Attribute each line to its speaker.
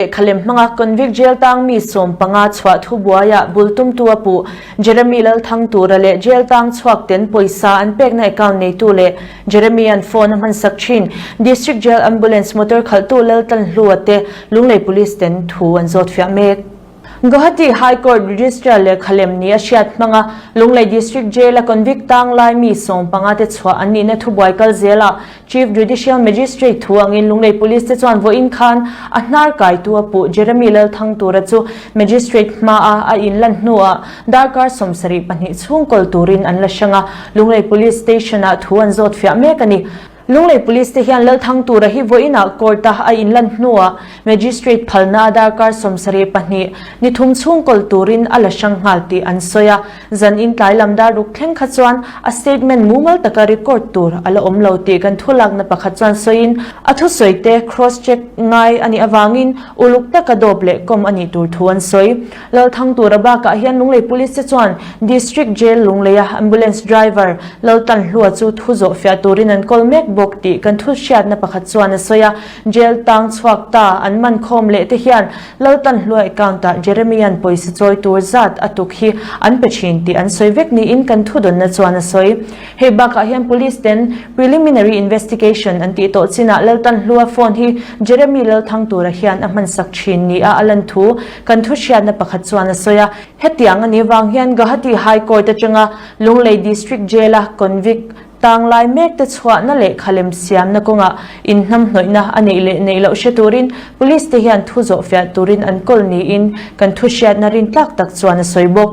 Speaker 1: Lehkhalem hmanga convict jail tang mi sawm panga chhuah thu buaia bul tumtu a puh Jeremy Lalthang tura leh jail tang chhuak ten pawisa an pekna account neitu leh Jeremy an phone a hmansak thin District Jail Ambulance motor khalhtu Laltan Hlua te Lunglei Police ten thu an zawt fiah mek. Guwahati High Court Registrar lehkhalem nih a hriat hmanga Lunglei District Jail a convict tang lai mi sawm panga te chhuah an nihna thu buai kal zel a Chief Judicial Magistrate thu angin Lunglei Police te chuan vawiin khan a hnar kaitu a puh Jeremy Lalthang tura chu Magistrate hmaa a inlan hnuah darkar sawm sarih pahnih chhung kawl turin an la hrang a, Lunglei Police Station-ah thu an zawt fiah mek a ni. Lunglei Police te hian Lalthang tura hi vawiina Court-a a inlan hnuah Magistrate phalna a darkar sawm sarih pahnih ni thum chhung kawl turin a la hrang nghal tih an sawi a. Zan in tlai lam dar ruk thleng kha chuan a statement mumal taka record tur a la awm lo tih kan thu lakna pakhat chuan sawiin a thu sawi te cross check ngai a nih avangin uluk taka dawp leh kawm a nih tur thu an sawi. Lalthang tura bakah hian Lunglei Police te chuan District Jail Lungleia Ambulance Driver Laltan Hlua chu thu zawh fiah turin an kawl mek bawk tih kan thu hriatna pakhat chuan a sawi a. Jail tang chhuak ta an man khawm leh te hian Laltan hluai count-ah Jeremia'n pawisa chawi tur zat a tuk hi an pe thin tih an sawi vek niin kan thudawnna chuan a sawi. Hei bakah hian police ten preliminary investigation an tih tawh chinah Laltan hlua phone hi Jeremy Lalthang tura hian a hmansak thin ni a a lan thu kan thuhriatna pakhat chuan a sawi a. Hetiang a nih vang hian Guwahati High Court atanga Lunglei District Jail-a convict Tang lai mek te chhuahna leh khalem siamna kawngah inhnamhnawihna a neih leh neih loh hre turin Police te hian thu zawhfiah turin an kawl niin kan thu hriatna rin tlak tak chuan a sawi bawk.